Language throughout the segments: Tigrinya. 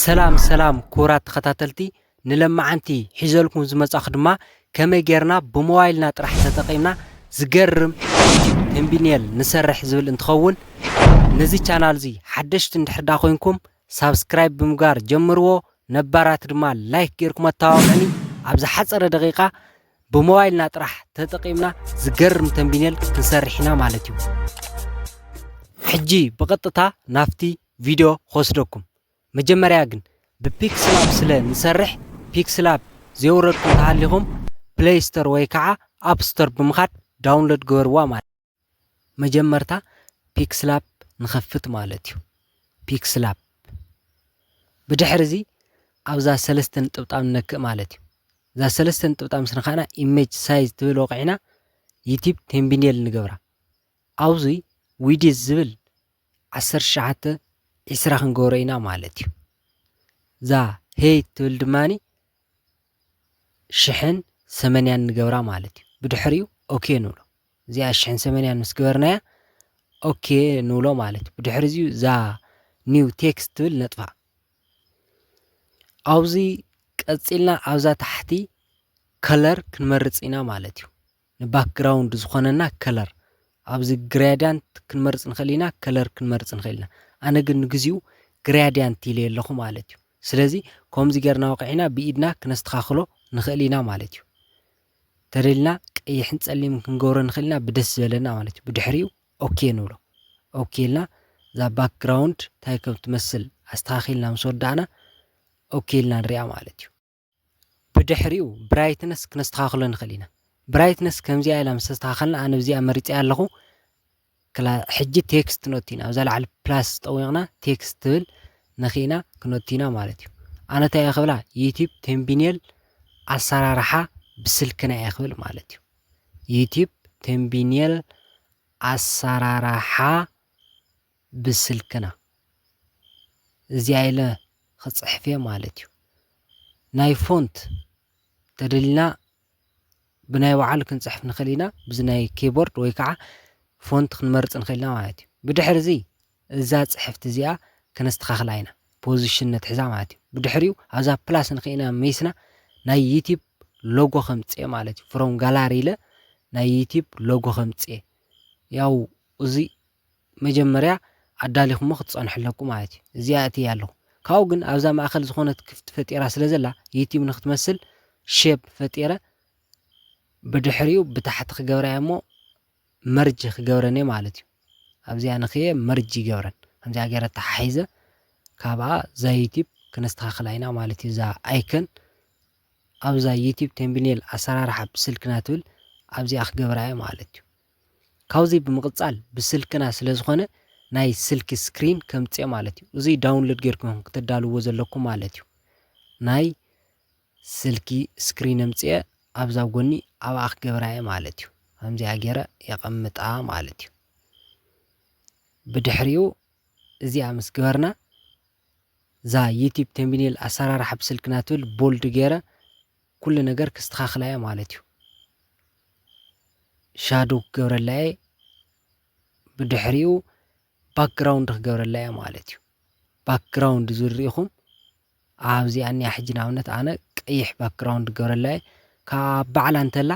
ሰላም ሰላም ክቡራት ተኸታተልቲ ንለማዓንቲ ሒዘልኩም ዝመጻኹ ድማ ከመይ ጌርና ብሞባይልና ጥራሕ ተጠቂምና ዝገርም ዩቱብ ተምቢኔል ንሰርሕ ዝብል እንትኸውን ነዚ ቻናል እዚ ሓደሽቲ እንድሕር ዳ ኮይንኩም ሳብስክራይብ ብምግባር ጀምርዎ ነባራት ድማ ላይክ ጌርኩም ኣተባብዑኒ ኣብ ዝሓጸረ ደቂቃ ብሞባይልና ጥራሕ ተጠቂምና ዝገርም ተምቢኔል ክንሰርሕ ኢና ማለት እዩ ሕጂ ብቐጥታ ናፍቲ ቪድዮ ክወስደኩም መጀመርያ ግን ብፒክስላብ ስለ ንሰርሕ ፒክስላብ ዘየውረድኩም ተሃሊኹም ፕለይ ስቶር ወይ ከዓ ኣብ ስቶር ብምኻድ ዳውንሎድ ግበርዋ ማለት መጀመርታ ፒክስላብ ንኸፍት ማለት እዩ ፒክስላብ ብድሕሪ እዚ ኣብዛ ሰለስተ ንጥብጣብ ንነክእ ማለት እዩ እዛ ሰለስተ ንጥብጣብ ምስ ነኻእና ኢሜጅ ሳይዝ ትብል ወቂዕና ዩቲብ ቴምቢኔል ንገብራ ኣብዚ ዊዲዝ ዝብል ዓሰርተ ትሽዓተ ዒስራ ክንገብሮ ኢና ማለት እዩ። እዛ ሄይ ትብል ድማ ሽሕን ሰመንያን ንገብራ ማለት እዩ። ብድሕሪኡ ኦኬ ንብሎ እዚኣ ሽሕን ሰመንያን ምስ ገበርናያ ኦኬ ንብሎ ማለት እዩ። ብድሕሪ እዚዩ እዛ ኒው ቴክስት ትብል ነጥፋ። ኣብዚ ቀፂልና ኣብዛ ታሕቲ ከለር ክንመርፅ ኢና ማለት እዩ። ንባክግራውንድ ዝኾነና ከለር ኣብዚ ግሬድያንት ክንመርፅ ንኽእል ኢና ከለር ክንመርፅ ንኽእል ኢና ኣነ ግን ንግዚኡ ግሬድያንት ኢለዮ ኣለኹ ማለት እዩ ስለዚ ከምዚ ጌርና ወቂዕና ብኢድና ክነስተኻኽሎ ንኽእል ኢና ማለት እዩ ተደልና ቀይሕን ፀሊምን ክንገብሮ ንኽእል ኢና ብደስ ዝበለና ማለት እዩ ብድሕሪኡ ኦኬ ንብሎ ኦኬ ኢልና እዛ ባክግራውንድ እንታይ ከም ትመስል ኣስተኻኺልና ምስ ወዳእና ኦኬ ኢልና ንሪኣ ማለት እዩ ብድሕሪኡ ብራይትነስ ክነስተኻኽሎ ንኽእል ኢና ብራይትነስ ከምዚኣ ኢላ ምስ ኣስተኻኸልና ኣነ ብዚኣ መሪጸያ ኣለኹ ሕጂ ቴክስት ክንወቲ ኢና ኣብዛ ላዕሊ ፕላስ ጠዊቕና ቴክስት ትብል ነኺእና ክንወቲ ኢና ማለት እዩ ኣነ እንታይ እየ ክብላ ዩቲብ ቴምቢኔል ኣሰራርሓ ብስልክና እየ ክብል ማለት እዩ ዩቲብ ቴምቢኔል ኣሰራርሓ ብስልክና እዚኣ ኢለ ክጽሕፍ'የ ማለት እዩ። ናይ ፎንት ተደሊና ብናይ ባዕሉ ክንጽሕፍ ንኽእል ኢና፣ ብዚ ናይ ኪቦርድ ወይ ከዓ ፎንት ክንመርጽ ንኽእል ኢና ማለት እዩ። ብድሕርዚ እዛ ጽሕፍቲ እዚኣ ከነስተኻኽላ ኢና፣ ፖዚሽን ነትሕዛ ማለት እዩ። ብድሕሪኡ ኣብዛ ፕላስ ንኪኢና መይስና ናይ ዩቲብ ሎጎ ከምጽእ ማለት እዩ። ፍሮም ጋላሪ ኢለ ናይ ዩቲብ ሎጎ ከምጽእ ያው እዚ መጀመርያ ኣዳሊኹሞ ክትጸንሑ ኣለኩም ማለት እዩ። እዚኣ ኣእትያ ኣለኹ። ካብኡ ግን ኣብዛ ማእከል ዝኾነት ክፍቲ ፈጢራ ስለ ዘላ ዩቲዩብ ንክትመስል ሼፕ ፈጢረ ብድሕሪኡ ብታሕቲ ክገብራ እየ እሞ መርጅ ክገብረን እየ ማለት እዩ። ኣብዚኣ ንክየ መርጅ ይገብረን። ከምዚኣ ገይረ ተሓሒዘ ካብኣ እዛ ዩቲዩብ ክነስተኻኽላ ኢና ማለት እዩ። እዛ ኣይከን ኣብዛ ዩቲዩብ ቴምብኔል ኣሰራርሓ ብስልክና ትብል ኣብዚኣ ክገብራ እየ ማለት እዩ። ካብዚ ብምቅጻል ብስልክና ስለ ዝኮነ ናይ ስልኪ ስክሪን ከምጽኦ ማለት እዩ እዚ ዳውንሎድ ጌርኩም ኢኩም ክተዳልውዎ ዘለኩም ማለት እዩ ናይ ስልኪ ስክሪን ኣምጽኦ ኣብዛ ኣብ ጎኒ ኣብኣ ክገብራ እየ ማለት እዩ ከምዚኣ ጌረ የቀምጣ ማለት እዩ ብድሕሪኡ እዚኣ ምስ ግበርና እዛ ዩቲብ ተምቢኔል ኣሰራርሓ ብስልክና ትብል ቦልድ ገይረ ኩሉ ነገር ክስተኻኽላ እየ ማለት እዩ ሻዶ ክገብረላ እየ ብድሕሪኡ ባክግራውንድ ክገብረላ እየ ማለት እዩ ባክግራውንድ ዝርኢኹም ኣብዚኣ እኒኣ ሕጂ ንኣብነት ኣነ ቀይሕ ባክግራውንድ ክገብረላ እየ ካብ ባዕላ እንተላ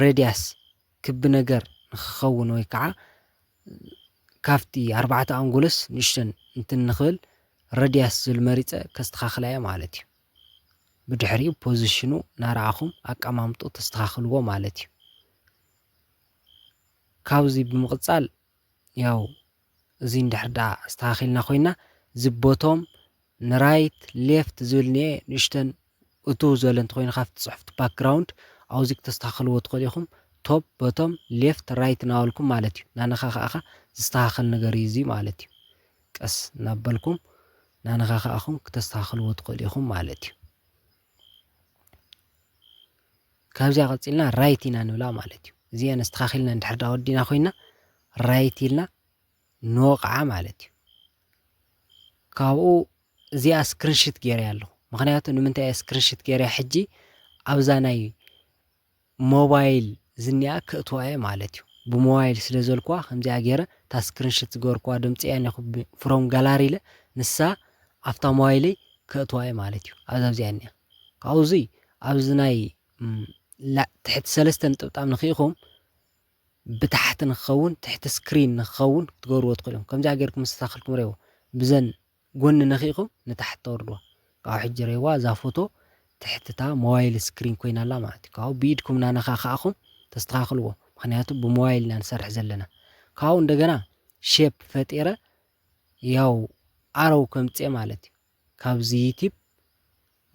ረድያስ ክቢ ነገር ንክኸውን ወይ ከዓ ካብቲ ኣርባዕተ ኣንጎሎስ ንእሽተን እንትን ንክብል ረድያስ ዝብል መሪፀ ከስተኻኽላ እየ ማለት እዩ። ብድሕሪኡ ፖዝሽኑ ናረኣኹም ኣቀማምጥኡ ተስተኻኽልዎ ማለት እዩ። ካብዙይ ብምቕፃል ያው እዚ እንድሕር ደኣ ኣስተኻኺልና ኮይና እዚ ቦቶም ንራይት ሌፍት ዝብል እኒኤ ንእሽተን እትው ዝበለ እንተኾይኑ ካብቲ ፅሑፍቲ ባክግራውንድ ኣውዚ ክተስተኻኽልዎ ትኽእሉ ኢኹም ቶፕ ቦቶም ሌፍት ራይት እናበልኩም ማለት እዩ ናነኻኻእኻ ዝስተኻኸል ነገር እዩ እዚ ማለት እዩ ቀስ እናበልኩም ናነኻኻእኹም ክተስተኻኽልዎ ትኽእሉ ኢኹም ማለት እዩ። ካብዚኣ ቀፂልና ራይት ኢና ንብላ ማለት እዩ እዚአን ኣስተኻኺልና እንድሕር ዳ ወዲና ኮይና ራይት ኢልና ንወቕዓ ማለት እዩ ካብኡ እዚኣ ስክሪንሽት ገይረያ ኣለኹ ምክንያቱ ንምንታይ እየ ስክሪንሽት ገይረያ ሕጂ ኣብዛ ናይ ሞባይል ዝኒኣ ከእትዋ እየ ማለት እዩ ብሞባይል ስለ ዘልኩዋ ከምዚኣ ጌረ እታ ስክሪንሽት ዝገበርኩዋ ድምፂ እያ እኒኣ ፍሮም ጋላሪ ኢለ ንሳ ኣፍታ ሞባይለይ ከእትዋ እየ ማለት እዩ ኣብዛ እዚኣ እኒኣ ካብኡ እዙይ ኣብዚ ናይ ትሕቲ ሰለስተ ንጥብጣብ ንክኢኹም ብታሕቲ ንክኸውን ትሕቲ ስክሪን ንክኸውን ክትገብርዎ ትኽእሉ እዮም ከምዚኣ ጌርኩም ምስተታኸልኩም ሬዎ ብዘን ጎኒ ነኺእኹም ንታሕቲ ተውርድዋ ካብኡ ሕጂ ርኤዋ እዛ ፎቶ ትሕቲ እታ ሞባይል ስክሪን ኮይና ኣላ ማለት እዩ ካብኡ ብኢድኩም ናነኻኻእኹም ተስተኻኽልዎ ምኽንያቱ ብሞባይል ኢና ንሰርሕ ዘለና ካብኡ እንደገና ሼፕ ፈጢረ ያው ኣረው ከምጽእ ማለት እዩ ካብዚ ዩቲብ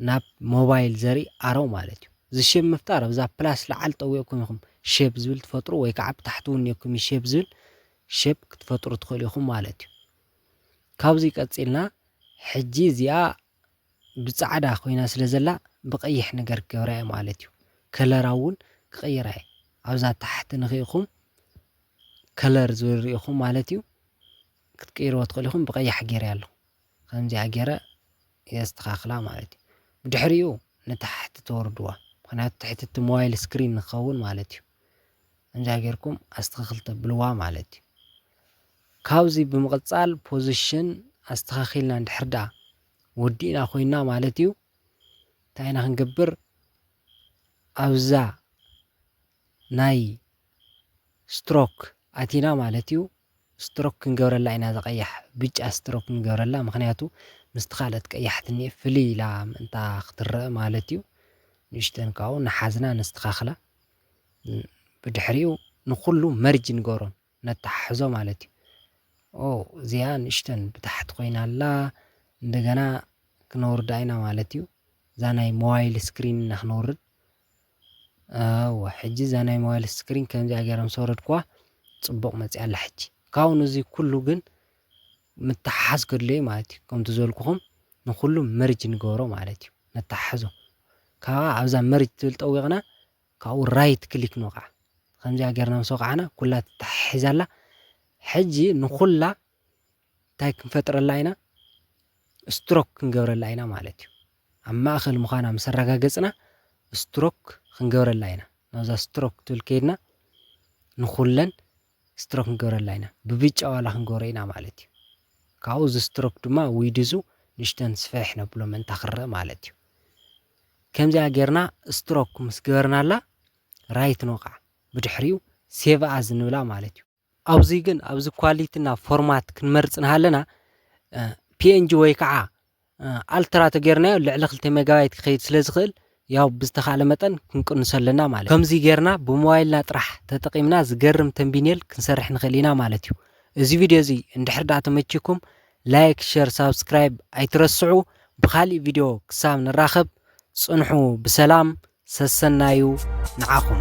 ናብ ሞባይል ዘርኢ ኣሮ ማለት እዩ። እዚ ሼብ ምፍጣር ኣብዛ ፕላስ ላዓል ጠዊቕኩም ኢኹም ሼብ ዝብል ትፈጥሩ ወይ ካዓ ብታሕቲ እውን ኔርኩም እዩ ሼብ ዝብል ሼብ ክትፈጥሩ ትኽእሉ ኢኹም ማለት እዩ። ካብዙይ ቀፂልና ሕጂ እዚኣ ብፃዕዳ ኮይና ስለ ዘላ ብቀይሕ ነገር ክገብራ እየ ማለት እዩ። ከለራ እውን ክቅይራ እየ ኣብዛ ታሕቲ ንኺኢኹም ከለር ዝብል ሪኢኹም ማለት እዩ ክትቅይርዎ ትኽእሉ ኢኹም ብቀያሕ ገይረያ ኣለኹ። ከምዚኣ ጌረ የስተኻኽላ ማለት እዩ። ብድሕሪኡ ንታሕቲ ተወርድዋ ምኽንያቱ ትሕቲ እቲ ሞባይል ስክሪን ንክኸውን ማለት እዩ። ከምዚኣ ጌርኩም ኣስተኻኽል ተብልዋ ማለት እዩ። ካብዚ ብምቕጻል ፖዚሽን ኣስተኻኺልና እንድሕር ደኣ ወዲእና ኮይና ማለት እዩ እንታይ ኢና ክንገብር ኣብዛ ናይ ስትሮክ ኣቲና ማለት እዩ። ስትሮክ ክንገብረላ ኢና እዛ ቀያሕ ብጫ ስትሮክ ክንገብረላ ምክንያቱ ምስቲ ካልኦት ቀያሕቲ እኒኤ ፍልይ ኢላ ምእንታ ክትረእ ማለት እዩ ንእሽተን ካብኡ ንሓዝና ነስተካክላ ብድሕሪኡ ንኩሉ መርጅ ንገብሮ ነተሓሕዞ ማለት እዩ ኦ እዚኣ ንእሽተን ብታሕቲ ኮይና ኣላ እንደገና ክነውርዳ ኢና ማለት እዩ እዛ ናይ ሞባይል ስክሪን ኢና ክነውርድ እወ ሕጂ እዛ ናይ ሞባይል ስክሪን ከምዚኣ ገይረ ምስ ኣውረድክዋ ፅቡቕ መፂኣ ኣላ ሕጂ ካብኡ ንዙ ኩሉ ግን ምትሓሓዝ ከድልዮ እዩ ማለት እዩ ከምቲ ዝበልኩኹም ንኹሉ መርጅ ንገብሮ ማለት እዩ ነተሓሕዞ ካብኣ ኣብዛ መርጅ ትብል ጠዊቕና ካብኡ ራይት ክሊክ ንወቕዓ ከምዚኣ ገርና ምስ ወቕዓና ኩላ ተተሓሒዛ ኣላ ሕጂ ንኹላ እንታይ ክንፈጥረላ ኢና? ስትሮክ ክንገብረላ ኢና ማለት እዩ። ኣብ ማእኸል ምዃና ምስ ኣረጋገፅና ስትሮክ ክንገብረላ ኢና። ናብዛ ስትሮክ ትብል ከይድና ንኹለን ስትሮክ ክንገብረላ ኢና። ብብጫ ዋላ ክንገብሮ ኢና ማለት እዩ። ካብኡ እዚ ስትሮክ ድማ ዊድዙ ንእሽተን ስፍሕ ነብሎ ምእንታ ክረእ ማለት እዩ። ከምዚኣ ጌርና ስትሮክ ምስ ገበርናላ ራይት ንወቕዓ። ብድሕሪኡ ሴቭ ኣዝ ንብላ ማለት እዩ። ኣብዙይ ግን ኣብዚ ኳሊቲ እና ፎርማት ክንመርፅ ንሃለና ፒንጂ ወይ ከዓ ኣልትራ ተጌርናዮ ልዕሊ ክልተ ሜጋባይት ክኸይድ ስለ ዝኽእል ያው ብዝተኻለ መጠን ክንቅንሶ ኣለና ማለት ከምዚ ጌርና ብሞባይልና ጥራሕ ተጠቒምና ዝገርም ተንቢኔል ክንሰርሕ ንኽእል ኢና ማለት እዩ እዚ ቪድዮ እዚ እንድሕር ዳኣ ተመቺኩም ላይክ ሸር ሳብስክራይብ ኣይትረስዑ ብኻሊእ ቪድዮ ክሳብ ንራኸብ ፅንሑ ብሰላም ሰሰናዩ ንዓኹም።